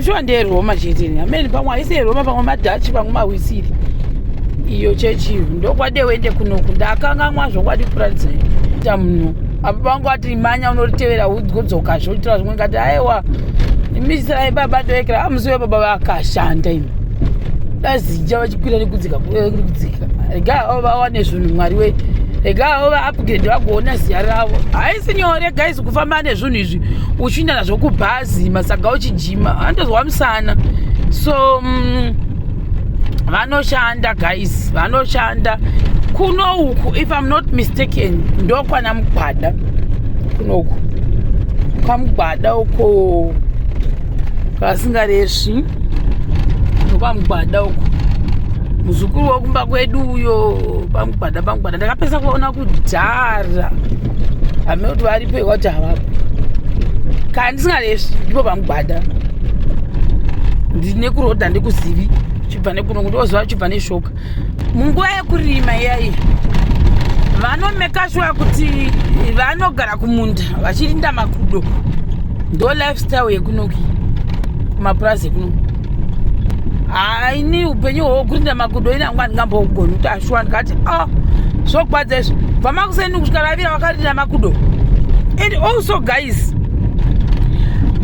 Speaker 1: shuwa ndeeroma chete ameni pamwe haisi eroma pamwe madhachi pamwe mahwisiri iyo chechi iyo ndokwadiewende kunoku ndakanganwa zvokwadi kuratidza ita muno apa pangu ati manya unoritevera udgodzoka zvoitira zvimwe ngati aiwa imisirai baba ndoekera amusi webaba vakashanda imi dazija vachikwira nekudzika nekudzika rega avo vawane zvinhu mwari we rega avo vaapgrade vagoona ziya ravo haisi nyore guys kufamba nezvinhu izvi uchiinda nazvo kubhazi masaga uchijima andozwa musana so mm, vanoshanda guys vanoshanda kuno uku if im not mistaken ndokwana mugwada kuno uku kwamugwada uko kasingaresvi ndokwamugwada uko muzukuru wekumba kwedu uyo pamugwada pamugwada ndakapesa kuona kudhara hameno kuti varipo ikwati havapo kana ndisingaresvi ndipo pamugwada ndine kuroad handikuzivi chibva nekuno kundoziva chibva neshoka munguva yekurima iyayi vanomekashuwa kuti vanogara kumunda vachirinda makudo ndo lifestyle yekunoki kumapurazi ekunoki haini upenyu hwo kurinda makudo ini angu andingambogoni kuti ashuwa ndikati a ah, zvokwadza izvi bva makuseni kusvika ravira vakarinda makudo and also guys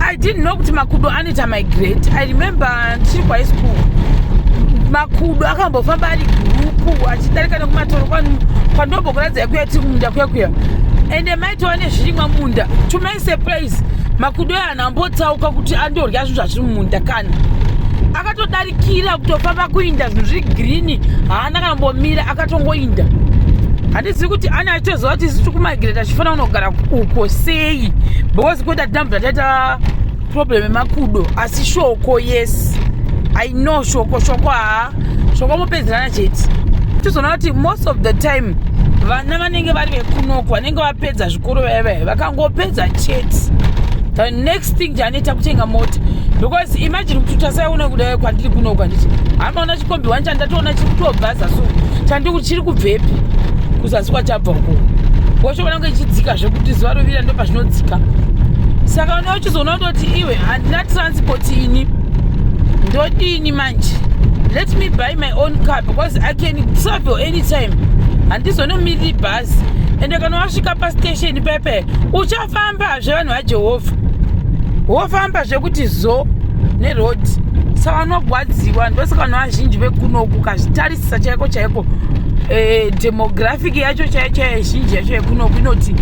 Speaker 1: i didn't know kuti makudo anoita migrate i remember ndichiri kwahigh school makudo akambofamba ari gurupu achidarika nekumatoro kwandobokuratidza yakuya tiri mumunda kuya kuya ende maitova nezvirimwa munda to my surprise makudo kana ambotsauka kuti andorya zvinhu zvazviri mumunda kana akatodarikira kutofamba kuinda zvinhu zviri girini haana kana mbomira akatongoinda handizivi kuti ani achitoziva kuti isu tikumaigreta tichifanira kunogara uko sei because kwete dambu rataita problem emakudo asi shoko yes i know shoko shoko haa shoko mopedzerana chete tizoona kuti most of the time vana vanenge vari vekunoko vanenge vape pedza zvikuru veve vakangopedza chete the next thing chanoita kutenga mota because imagine kuti tasaiona kuda kwandiri kuno kwanditi hamaona chikombi wani chandatoona chiri kutobva zasu chandikuti chiri kubvepi kuzasi kwachabva uko wochoona kunge chidzika zvekuti zuva rovira ndo pazvinodzika saka une uchizoona kutoti iwe handina transport ini ndodini manje let me buy my own car because i can travel anytime handizonomiriri bhasi ende kana wasvika pastation pepe uchafamba zvevanhu vajehovha wofamba zvekuti zo neroad saka vanogwadziwa ndosaka vanhu vazhinji vekunoku kazvitarisisa chaiko chaiko eh, demographic yacho chaiyo chaiyo zhinji yacho yekunoku inoti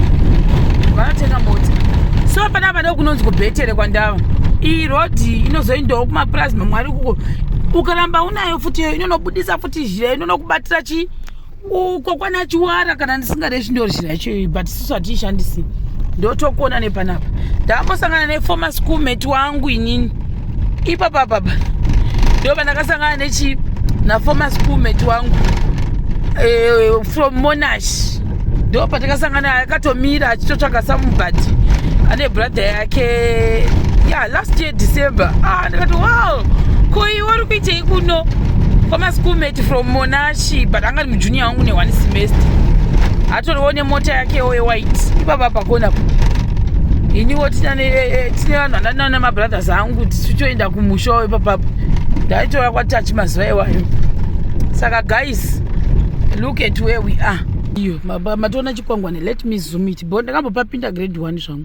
Speaker 1: vanotenga mota so pana pane kunonzi kubhetere kwandava iyi rodhi inozoindawo kumapurazi mamwari kuko ukaramba unayo futi iyo inonobudisa futi zhira inonokubatira chii uko kwana chiwara kana ndisingade chindorishira ichoyo but sisu hatiishandisi ndotokona nepanapa ndakambosangana neformer school mate wangu inini ipapa papa ndo pandakasangana nechi naformer school mate wangu eh, from monash ndo patakasangana akatomira achitotsvaga samubadi ane brother yake ya yeah, last year december ah, ndikati wow uri kuitei kuno kwama schoolmate from monashi but anga ndi mujunior wangu ne one semester atoriwo nemota yakewo yewhite ipapa pakona iniwo tine eh, eh, tine vanhu vandanaona mabrothers angu kuti tichitoenda kumusha wawo ipapapo ndaitora kwatachi mazuva iwayo saka guys look at where we are iyo matoona chikwangwani let me zoom it bo ndakambopapinda grade one zvangu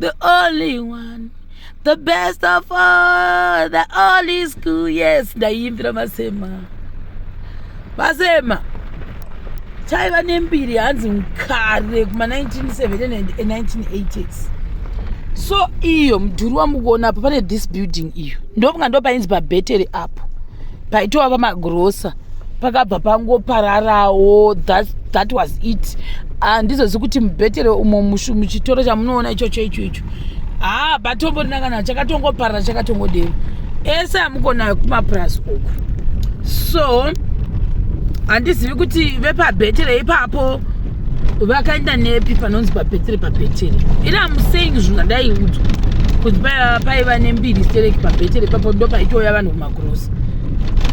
Speaker 1: the only one the best of all the only school yes ndaiimbira masema masema chaiva nembiri hanzi mukare kuma 1970 and 1980s so iyo mudhuri wamukuona apo pane this building iyo ndokunga ndopainzi pabheteri apo paitova pamagrosa pakabva pangopararawo that, that was it handizozi ah, kuti mubhetere umo muchitoro chamunoona ichocho icho icho haa ah, batomborinangana chakatongoparara chakatongodero ese amukonayo kumapurasi uku so handizivi kuti vepabhetere ipapo vakaenda nepi panonzi pabhetere pabhetere iri amuseying zvinhu andaiudzwa kunzi paiva nembiri stereki pabhetere ipapo ndo paitoya vanhu kuma gross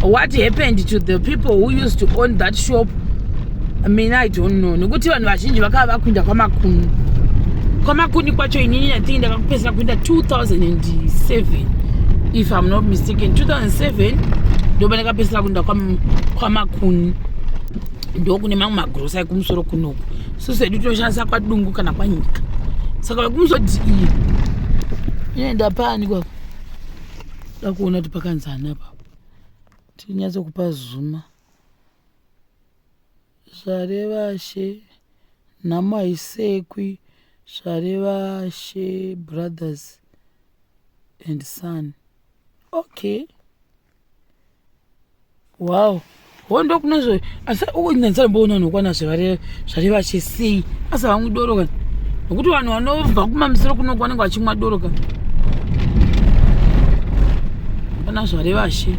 Speaker 1: what happened to the people who used to own that shop I mean, I don't know nekuti vanhu vazhinji vakava vakuinda kwamakuni kwamakuni kwacho inini natii ndakakupesera kuenda 2007 if im not mistaken 2007 ndoba ndakapesera kuenda kwamakuni ndokune mamwe magrosa ekumusoro kunoku so sedu tinoshandisa kwadungu kana kwanyika saka vekumusodii inoenda pani kwako da kuona kuti pakanzi ani apa tinyatse kupa zuma zvarevashe nhamo haisekwi zvarevashe brothers and son okay wow ho ndokunozvo asi ukunyanzamboona nokwana zvevare zvare vachesei asi vamwe doro kana nokuti vanhu vanobva kumamisiro kuno kwanenge vachimwa doro kana pana zvare vashe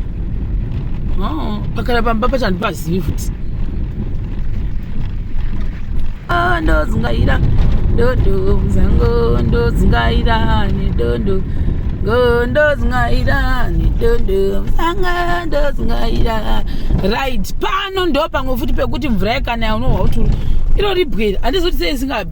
Speaker 1: pakara pamba pachandipazivi futi ah, ndodzingaira dondo muzango ndodzingaira nedondo right pano ndo pamwe futi pekuti mvura yekanaya unohwa kuti irori bwere handizoti sei isingabvi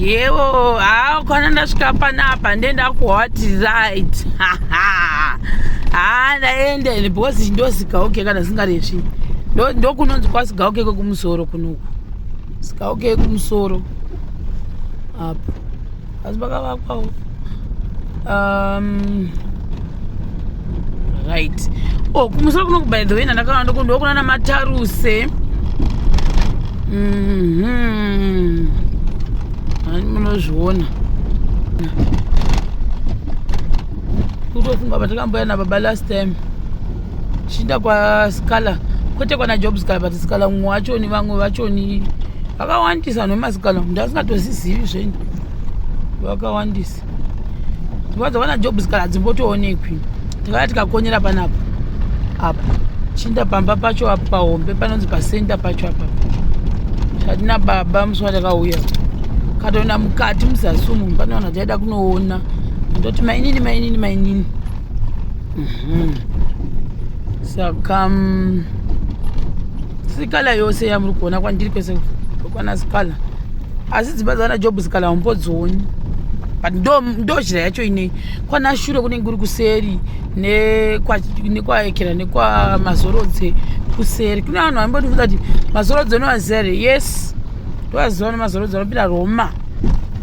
Speaker 1: yewo haa kwana ndasvika panapa nde ndakuhati right haa ndaendeni because ndozigauke kana zingaresvi ndokunonzi kwasigauke kwekumusoro kunoku sigauke yekumusoro apo asi pakavakwawo um, right o oh, kumusoro kunoku by the way nandakaona ndokundiwa kunana mataruse mhm. ani munozviona kutofunga patakamboya nababa last time chinda kwascala kwete kwana jobscala but scala mumwe wachoni vamwe vachoni vakawandisa vanhu vemasikana ndasingatozvizivi zvenyu vakawandisa dzimba dzavana job zikana dzimbotoonekwi tikada tikakonyera panapa apa chinda pamba pacho apa pahombe panonzi pasenda pacho apa chatina baba musi watakauya katoona mukati muzasi umu panoona taida kunoona ndoti mainini mainini mainini mm -hmm. saka mm, sikala yose yamuri kuona kwandiri kwese kwana sikala asi dzimba dzana job sikala hambodzioni but ndozhira yacho inei kwana shure kunenge kuri kuseri nekwaekera nekwamazorodze kuseri kune vanhu vaimbondifunza kuti mazorodze nowazere yes ndovaziva nemazorodze anopinda roma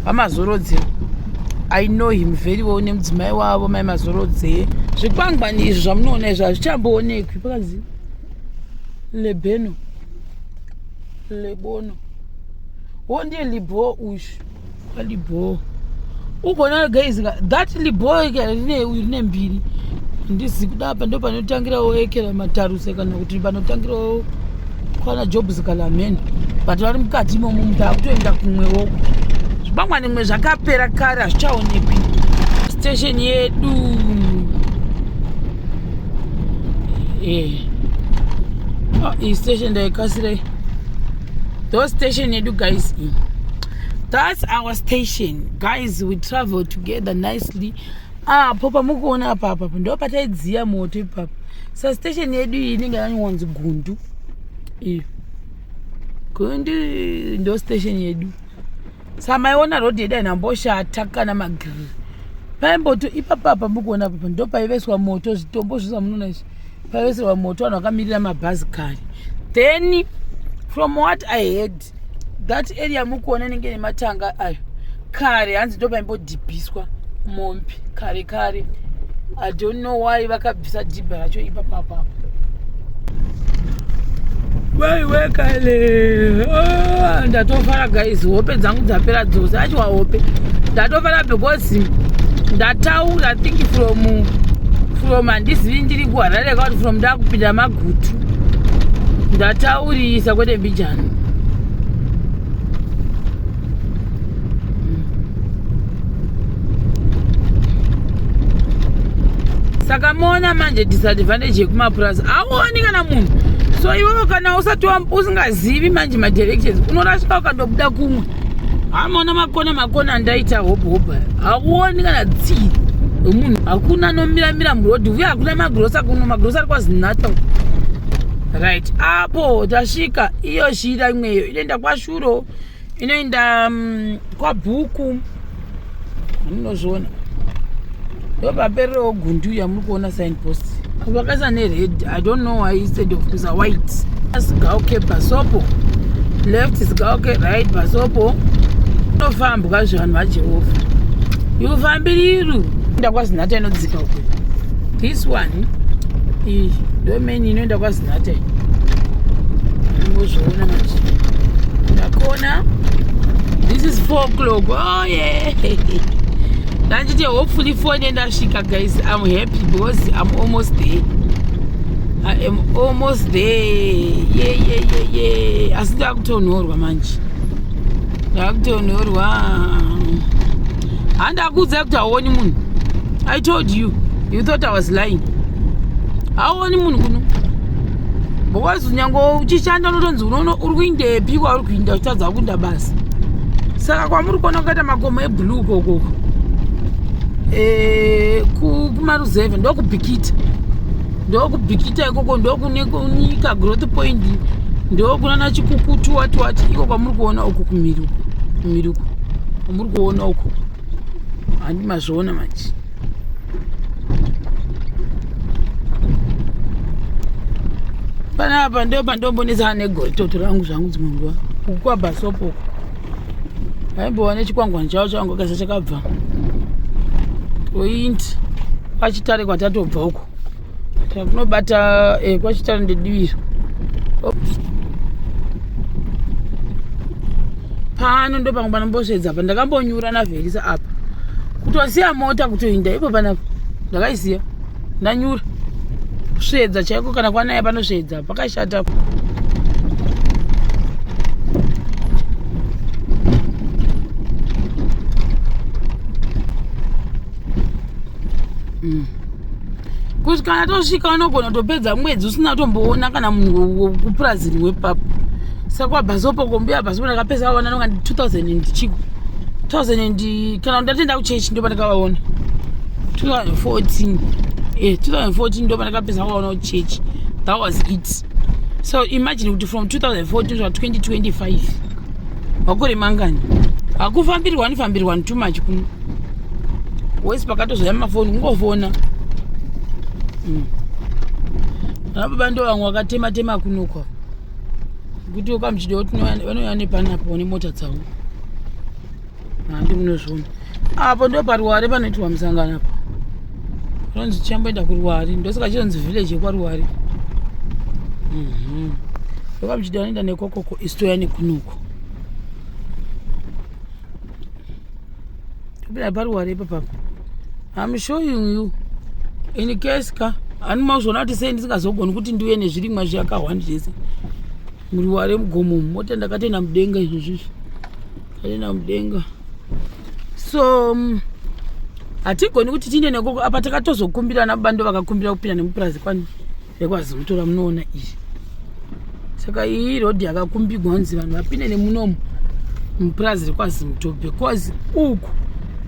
Speaker 1: vamazorodze i know him very well nemudzimai wavo mai mazorodze zvikwangwani izvi zvamunoona izvi hazvichamboonekwi pakazi lebeno lebono wo ndiye libho uyu libho ugona guys that libho rine uyu rine mbiri ndizi kuda apa ndopanotangirawo ekera mataruse kana kuti panotangirawo kwana jobs kana mheni but vari mukati imomo mntu akutoenda kumwewo zvikwangwani imwe zvakapera kare hazvichaonekwi station yedu eh. ah, iyi station ndaikasirei those station yedu guys iyi that's our station guys we travel together nicely apo ah, pamukuona apaapa ndo pataidziya moto ipapa sustation yedu iyi inenge yanyangonzi gundu iyo gundu ndo station yedu samaiona road yedu ainamboshata kana magiri paimboto ipapapa mukuona papa ndo paiveswa moto zvitombo zvisamunoona izvi paiveserwa moto vanhu vakamirira mabhazi kare then from what i heard forest that area mukuona inenge nematanga ayo kare hanzi ndopaimbodhibhiswa mombe kare kare i don't know why vakabvisa dhibha racho ipapapapa waiwe kale ah, ndatofara guys hope dzangu dzapera dzose achiwa hope ndatofara because ndataura think from from handizivi ndiri kuharare kakuti from ndakupinda magutu ndataurisa kwete mbijana saka moona manje disadvantage yekumapurazi auoni kana munhu so iwewo kana usati usingazivi manje madirections unorasika ukandobuda kumwe hamaona makona makona andaita hope hope auoni kana tsii wemunhu hakuna anomiramira murodhi uye hakuna magrosa kuno magrosa ari kwazinata right apo tasvika iyo shira imweyo inoenda kwashuro inoenda um, kwabhuku munozviona ndopapererewo gundu yamuri kuona sign post vakaisa nered i don't know why instead of kuisa white sigauke pasopo left sigauke right pasopo unofambwa zvevanhu vajehovha yufambiriru enda kwazinhata inodzika uku this one iyi Ini inoenda kwazinhate mozviona manje ndakona this is four o'clock oh yeah ndanditi hopefully foni yendasvika guys i'm happy because i'm almost there i am almost there ye ye ye ye asi ndakutonhorwa manje ndakutonhorwa handakuudzai kuti hauoni munhu i told you you thought i was lying hauoni munhu kuno because nyange uchishanda unotonzi unoona uri kuindepi kwauri kuinda uchitadza kunda basa saka kwamuri kuona kukaita makomo eblue kokoko eh, kumaruzeve ndokubhikita ndokubhikita ikoko ndokuneka growth point ndokunana chikukutu wati wati iko kwamuri kuona uku kumiri uku kumiri uku kuona uko handi mazviona manje panapa ndo pandombonetsana negore toto rangu zvangu dzimwe nguva uku kwabhasopo uku aimbova nechikwangwani chavo changu kasa chakabva tointi pachitare kwatatobva uko kunobata eh, kwachitano ndediviro pano ndo pangu panombosvedza apa ndakambonyura navherisa apa kutosiya mota kutoinda ipo panapa ndakaisiya ndanyura kusvedza chaiko kana kwanaya panosvedza pakashata mm. kuti kana tosvika unogona kutopedza mwedzi usina kutomboona kana munhu wekupurazi rimwe papo saka kwabhazopo kombuya bhazopo ndakapedza vaona nonga ndi 2000 and chiko 2000 and kana ndatenda kuchechi ndopa ndakavaona 2014 e 2014 ndopa ndakapedza vaona kuchechi that was it so imagine kuti from 2014 zva 2025 makore mangani hakufambirwani fambirwani too much kuno wese pakatozoya mafoni kungofona mm. ana baba ndo vamwe vakatema tema kunokwa kuti ukamuchidoti vanouya nepanapo nemota dzavo handi munozviona apo ndo paruware panoitwa musangano apo ronzi chamboenda kuruware ndosaka chironzi village yekwaruware mhm. ndoka muchida vanoenda nekokoko istoya nekunuko topinda paruware ipapapo am showing you in case ka ani mauzviona kuti sei ndisingazogoni kuti ndiuye nezvirimwa zviyakahwani zvese muruware mugomo mota ndakatoenda mudenga izvozvizvi Alina mudenga. So um, hatigoni kuti tiine nekoko apa takatozokumbira ana bando vakakumbira kupinda nemupurazi kwani rekwazimutora munoona izvi saka iyi rodhi yakakumbigwa kunzi vanhu vapinde nemunomu mupurazi rekwazimuto because uku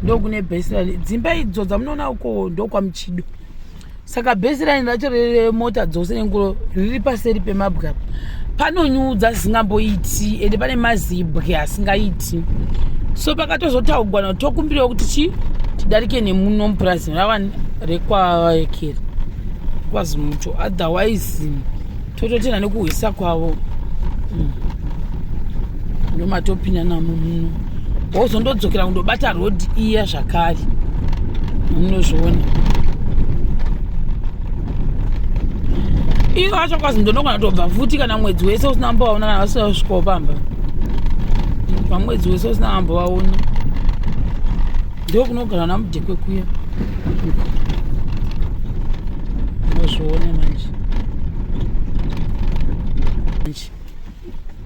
Speaker 1: ndokune bhesera dzimba idzo dzamunoona uko ndokwamuchido saka bhesiraini racho remota dzose nenguro riri paseri pemabwe apo panonyudza zisingamboiti ende pane mazibwe asingaiti so pakatozotaugwa no tokumbirawo kuti chii tidarike nemuno mupurazi ravani rekwaekeri kwazimuto otherwise tototinha nekuhwisa kwavo hmm. ndomatopinyanamu muno wozondodzokera kundobata rodhi iya zvakare munozviona iyo acho kwazi ndonogona tobva futi kana mwedzi wese usina ambovaona kana vasina kusvikawo pamba pamwedzi wese usina ambovaona ndokunogara namudekwe kuya mazvione manje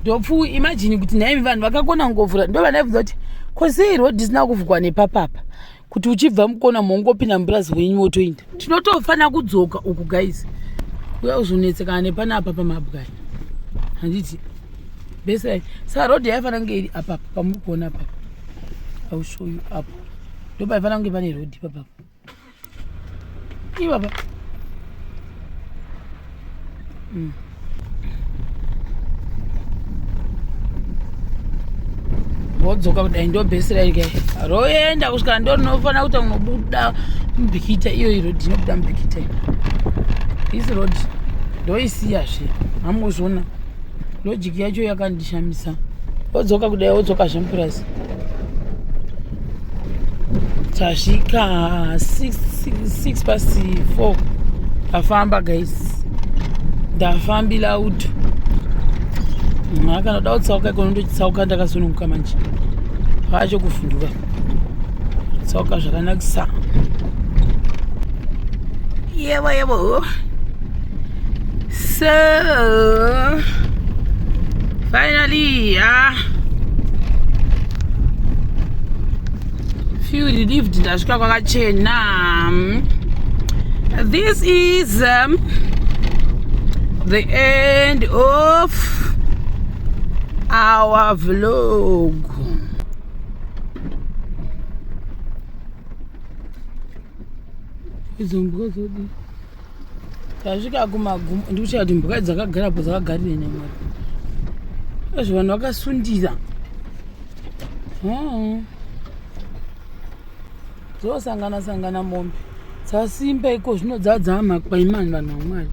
Speaker 1: ndopfu imajini kuti nhaimi vanhu vakakona kungovhura ndo vandaibvunza kuti ko sei rhodhi isina kuvhurwa nepapapa kuti uchibva mukona mongopinda mupurazi wenyu wotoinda tinotofanira kudzoka uku guys uya uzonetsekana nepana apa pamabwai handiti bese saka rhodhi yaifanira kunge iri apapa pamuri kuona apapa aushoyu apo ndo paifanira kunge pane rhodhi papapa Ibaba. Mm. wodzoka kudai ndobhesera iri kai roenda kusvika ndo rinofanira kuita kunobuda mubhikita iyo irodi inobuda mubhikita iyo isi rodi ndoisiyazve hamuzviona lojiki yacho yakandishamisa wodzoka kudai wodzoka zvemupurazi tasvika 6 past 4 ndafamba guys ndafambila out mhaka ndoda kutsauka ikono ndochitsauka ndakasununguka manje pacho kuvhunduka tsauka zvakanakisa yevo yevo so finally ah feel relieved ndasvika kwakachena this is um, the end of our vlog izo mbwa zodii tasvika kumagumo ndikuchaya kuti mhuka dzakagarapo dzakagarire nyamwari ezvo vanhu vakasundira dzosangana sangana mombe dzasimba iko zvino dzadzaamakwaimani vanhu vamwari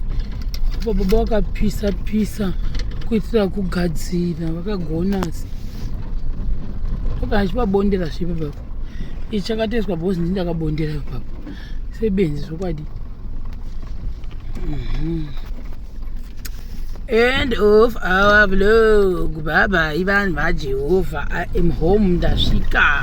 Speaker 1: apo baba vakapisa pisa kuitira kugadzira vakagona asi tokana chipabondera zvepapapo ichakatoiswa bhozi ndindakabondera ipapo sebenzi zvokwadi mhm. end of our vlog baba ivanhu vajehovha i am home ndasvika